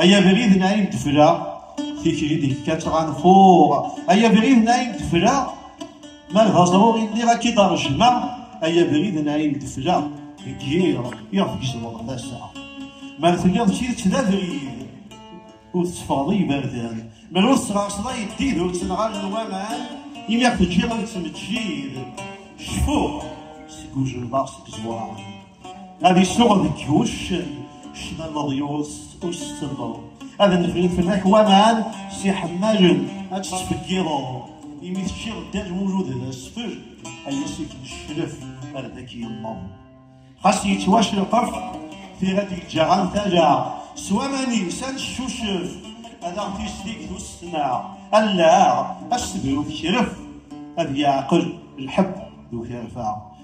Ay abrid n ayen tefla tikli d yekka ttɣanfuɣ ay abrid n ayen tefla ma d aẓruɣ illiɣ akka i d-rejmeɣ ay abrid n ayen tefla deg yiḍ iɣef gezmeɣ tasa ma telliḍ d tidet d abrid ur tetteffɣeḍ i yiberdan ma ur tesɣerseḍ ay ddid ur ttenɣal n waman imi ɣef teǧǧiḍ ad tettmeǧǧid cfuɣ seg ujenbaɣ seg ẓwaɣ Ad isuɣ deg uccen ccna leḍyus ur s-selleḍ ad nefri fell-ak waman si ḥemmalen ad tt-ttfeggiḍeḍ imi teččiḍ ddan wulud d asfel ay asif n ccref ar d ak-yemmeḍ xas yettwacreqef tira d-yeǧǧa ɣer tala s waman-is ad neccucef ad aɣ-tislik d ussna allaɣ ad s-tebru tekref ad yeɛqel lḥeb d ukerfa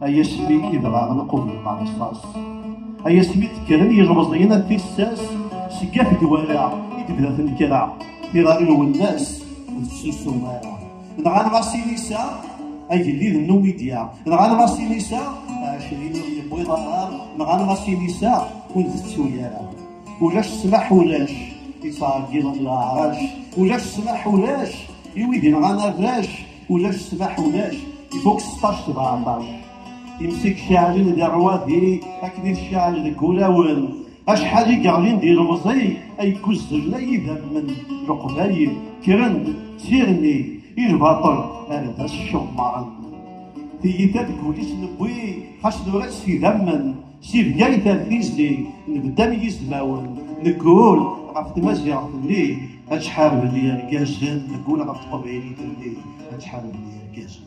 ay asmi i dɣa nqum lqerṣas ay asmi d-kkren yilemẓiyen ar tissas seg at dwala i tebda tnekra tira i lwennas ur tessusum ara nɣan ɣas inisa agellid n numidya nɣan ɣas inisa ɛecrin ur yewwiḍ ara nɣan ɣas inisa ur tettu ara ulac ssmaḥ ulac ittɛeggiḍen leɛrac ulac ssmaḥ ulac i wid yenɣan arrac Ulac ssbaḥ ulac, ifuk seṭṭac tebɣa ɛeṭṭac. Imsik ceɛlen di rrwadi, akken i tceɛl deg ulawen. Acḥal i yeɣlin di lemẓi, ay guzzlen ay idammen leqbay, kkren-d s irni i lbaṭel ar d as-cemmaren. Tiyita deg wul-is newwi, xas nura-tt s idammen, Si Bgayet ar tizlit, nebda am yizmawen, neggul ɣef tmaziɣt-nni, ad ḥarben yirgazen, neggul ɣef teqbaylit-nni, ad ḥarben yirgazen.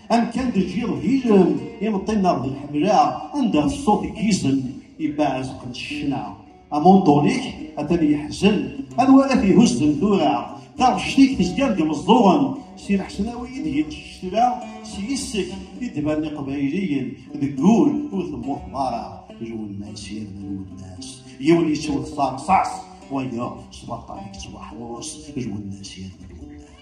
Amkan d jiḍ hilem, imeṭṭi nneɣ d lḥemla, anda ṣṣut i yizem, ibaɛezqen ccna. Amunṭun-ik atan yeḥzen, anwa ara t-ihuzzen tura? Taɣect-ik tezga-d imeẓẓuɣen, si leḥsnawi i d-yettcetla, s yis-k i d-banen iqbayliyen, deg wul ur temmuteḍ ara, lwennas yerna lwennas, yiwen yettwet s rṣas, wayeḍ s baṭṭal i yettwaḥrus, lwennas yerna lwennas.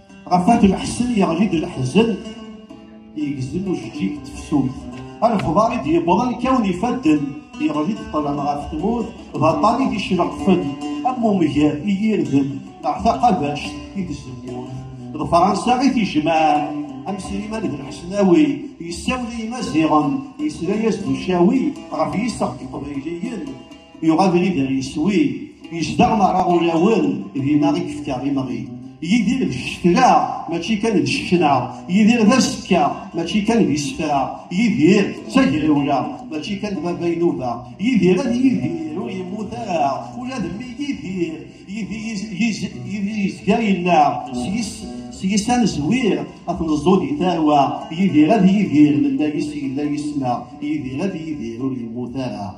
Ɣef wat lḥsen yeɣli-d leḥzen yegzem ujeǧǧig n tefsut. Alexbar i d-yewwḍen kawen ifadden yeɣli-d ṭṭlam ɣef tmurt d aṭṭan i d-icleqfen am umger i yirden neɣ taqabact i tzemmurt. D Fransa i t-ijemɛen am Sliman d Lḥesnawi yessawel i Yimaziɣen yesla-as-d ucawi ɣef yiseɣ n Iqbayliyen Yuɣ abrid ar yeswi, yezdeɣ merra ulawen, d imaɣi kefka imaɣi. Yidir d ccekla, mačči kan d ccekna. Yidir d asekka, mačči kan d isefra. Yidir d tagrawla, mačči kan d baba inuba. Yidir ad yidir, ur yemmut ara, ula d mmi yidir. Yidir yezga yella, s yis ad nezwir, ad neẓẓu di tarwa. Yidir ad yidir, nella yis yella yis-neɣ. Yidir ad yidir, ur yemmut ara.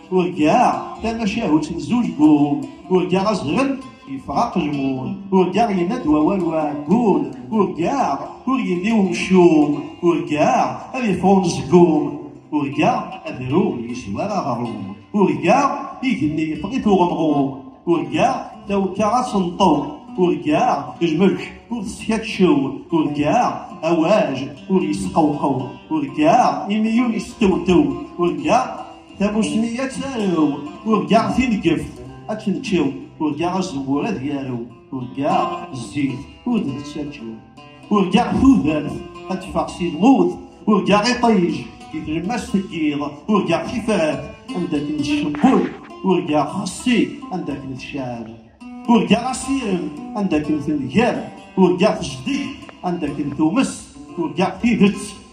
Urgaɣ tamacahut n zuǧ gul, urgaɣ azɣel yeffeɣ aqejmul, urgaɣ yenna-d wawal uɛeggul, urgaɣ ur yelli umcum, urgaɣ ad yeffeɣ umezgum, urgaɣ adru yeswar aɣrum, urgaɣ igenni yeffeɣ-it uɣemɣum, urgaɣ tawekka ad tenṭew, urgaɣ jmej ur teskaččew, urgaɣ awaj ur yesqewqew, urgaɣ imiyyu yestewtew, urgaɣ Tamussni ad tarew, urgaɣ tinegeft ad tneččew, urgaɣ azemmur ad yarew, urgaɣ zzit ur d nettaǧew, urgaɣ tudert ad teffeɣ si lmut, urgaɣ iṭij di tlemmast teggiḍ, urgaɣ tifrat anda akken tcewwel, urgaɣ xessi anda akken tcab, urgaɣ asirem anda akken tengab, urgaɣ tejdeg anda akken tumes, urgaɣ tidet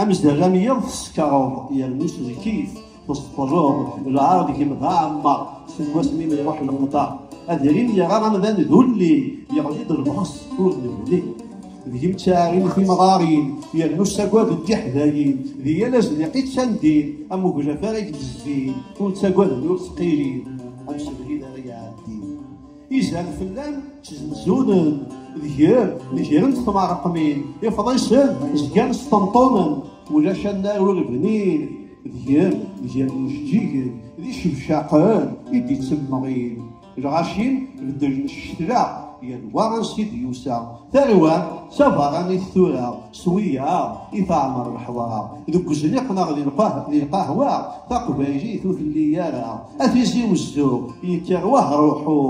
Amezdaɣ am yiḍ teskeṛeḍ yernu s lkif tesṭereḍ lɛar deg-m d aɛemmeṛ seg wasmi mi iṛuḥ leqder adrim yerra amdan d ulli yeɣli-d lbexs ur nebni deg-m ttaɛin timɣarin yernu ssagad d tiḥdayin di yal azniq i ttandin am uglaf ara k-d-zzin ur ttagaden ur ttqilin am sebrid ara iɛeddin Izan fell-am ttezmzunen, deg-r negren tmeṛqmin, ifḍisen zgan sṭenṭunen, ulac annar ur bnin, deg-r zgan mjeǧǧigen, d icebcaqen i d-ittemmeɣin. Lɣacin beddlen ccetla, yal wa ansi d-yusa, tarwa d tabeṛṛanit tura. S wiyaḍ i teɛmer leḥḍar, deg uzniq neɣ di lqahwa, taqbaylit ur telli ara. A tizi wezzuɣ, yekker wahruḥu,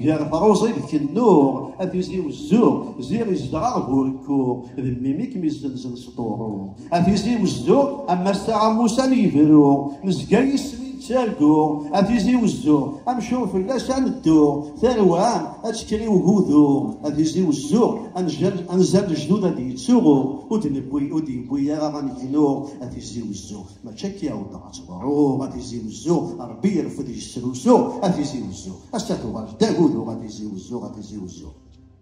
gar truẓi d kennuɣ, a tizi wezzuɣ, ziɣ izedɣeɣ bu rekkuɣ, d mmi mi kem-izzenzen s ṭuru. A tizi wezzuɣ, am ass-a am ussan yebru, nezga yis-m i ttarguɣ, a tizi wezzuɣ, amcum fell-as ad nedduɣ, Tarwa ad tekker i ugudu, ad izdi uzzu, anzal lejdud ad yettuɣu, ur d-yewwi ara anegnu, ad izdi uzzu. Mačči akka i awḍeɣ ad teḍru, ad izdi uzzu, Ṛebbi ireffed yesrusu, ad izdi uzzu. Ass-a tuɣal-d agudu, ad izdi uzzu, ad izdi uzzu.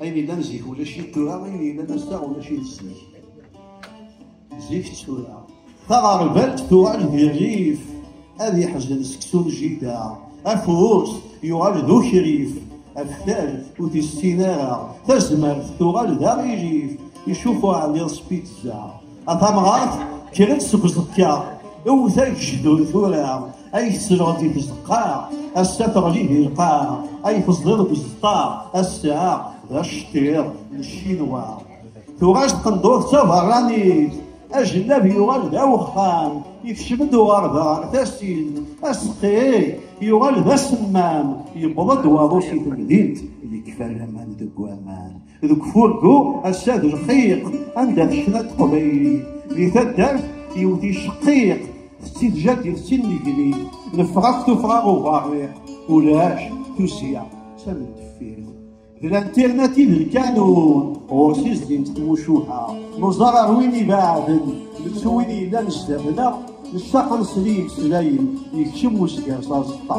Ayen yellan zik ulac-it tura, ayen yellan ass-a ulac-it zik. Zik d tura. Taɣerbalt tuɣal di rrif, ad yeḥzen seksu n jida. Afus yuɣal d ukrif, aftal ur t-issin ara. Tazmert tuɣal d aɣilif, icufu ɛliḍ s pizza. A tamɣart, kra-d seg uẓekka, iwwet agejdur tura. Ay tesleḍ di tzeqqa, ass-a teɣli di lqaɛ, ay teẓdiḍ deg uzeṭṭa, ass-a d aceṭṭiḍ n Ccinwa. Tuɣal tqendurt d taberranit, ajellab yuɣal d awexxam, ikcem-d uɣerda tasin, aseqqi yuɣal d asemmam, yewweḍ-d waḍu si temdint, yekfa laman deg waman. deg ufurgu ass-a d lxiq anda tekna teqbaylit di taddart yiwet icqiq tettidjad d tinigni nefrax tufra uberriq ulac tussya tamend deffir d lantirnativ d lkanun ɣur-s din tmucuha neẓar ar win ibaɛden nettu win yellan sdat-neɣ nessaqen s liy-meslayen yekcem usger s aẓeṭṭa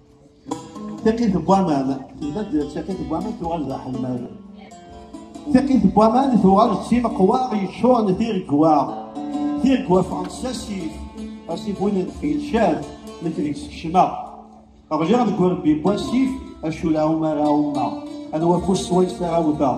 Tiqit n waman, tezmad tiqit n waman tuɣal d aḥemmad. Tiqit n waman tuɣal d timeqwaɣ yeččuren d tiregwa. Tiregwa ffɣent s asif, asif win n tfilcat, nekk deg skecma. Ɣliɣ deg urebbi n wasif, acu la umara umma, anwa afus swayes ara wteɣ.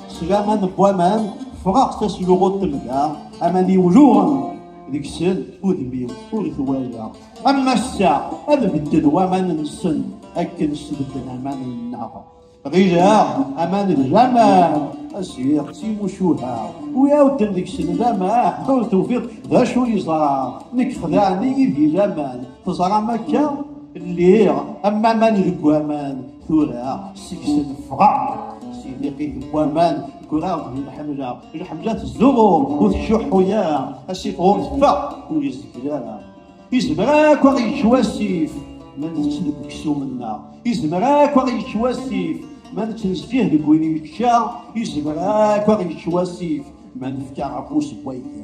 Sgama n waman, ffɣeɣ tasluɣut temda, aman iwluɣen deg-sen udem-iw ur twala. Am ass-a ad bedden waman-nsen akken sbedden aman-nneɣ. Ɣileɣ aman d laman, asiɣ d timucuha, wi awden deg-sen laman, ur tufiḍ d acu yeẓra, nekk xdaɛen-iyi di laman, teẓram akka? Lliɣ am aman deg waman, tura seg-s neffɣeɣ si tiqit n waman ggreɣ di lḥemla lḥemla tezzuɣu ur tcuḥḥu ara asif ɣur teffeɣ ur yezgel ara izmer akk ad yekk wasif ma nečč deg uksum-nneɣ izmer akk ad yekk wasif ma nettnezfih deg win yekka izmer akk ad yekk wasif ma nefka afus n waydi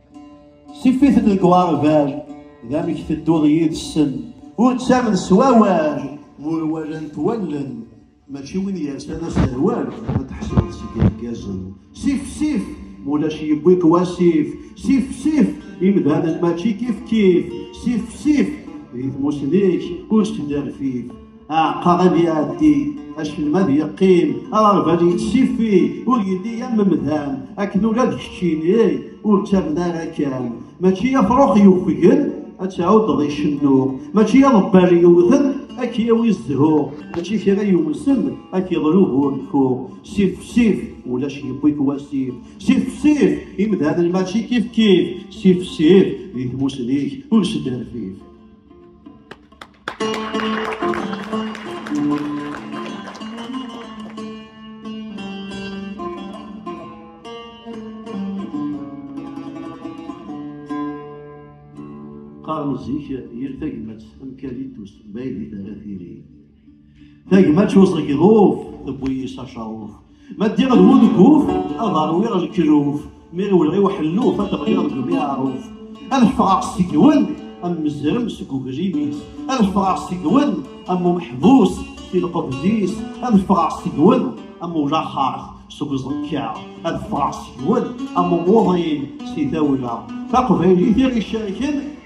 Tif-iten deg uɣerbal, d amek tedduḍ yid-sen, ur ttamen s wawal, ur walant wallen, mačči win yersan aserwal, ad teḥsbeḍ seg irgazen. Sif sif, mulac yewwi-k wasif, sif sif, imdanen mačči kif kif, sif sif, di tmusni-k ur snerfif. aɛeqqa ad iɛeddi aselmad yeqqim aɣerbal yettifi ur yelli am mdan akken ula d keččini ur ttamen ara kan mačči afṛux yufgen ad tɛuddeḍ icennu mačči aḍebbal yewten ad k-yawi zzhu mačči kra yumsen ad k-iḍlu burku sif sif ulac yewwi-k wasif sif sif imdanen mačči kif kif sif sif di tmusni-k ur sderfif qqaren zik yir tagmat am kalitus ma ideg ara tili Tagma ttuẓeg ḍuf, tewwi-yi s acaṛuf. Ma ddiɣ d wud guf, ad ṛwiɣ lekruf. Mi iwelɣi uḥelluf, ad ɣliɣ deg umiɛruf. Ad ffɣeɣ seg-wen, am mezrem seg uglim-is. Ad ffɣeɣ seg-wen, am umeḥbus si lqebz-is. Ad ffɣeɣ seg-wen, am ulaxeṛt seg uẓekka. Ad ffɣeɣ seg-wen, am umuḍin si tawla. Taqbaylit i ɣ-icerken.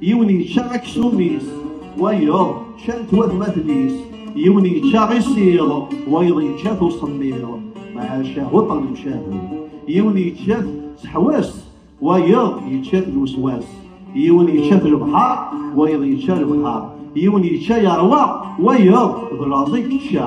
yiwen yečča aksum-is wayeḍ ččant watmaten-is yiwen yečča isiḍ wayeḍ yečča-t usemmiḍ maca huṭer lemcahu yiwen yečča-t seḥwas wayeḍ yečča-t lweswas yiwen yečča-t lebḥar wayeḍ yečča lebḥar yiwen yečča yerwa wayeḍ d laẓi yečča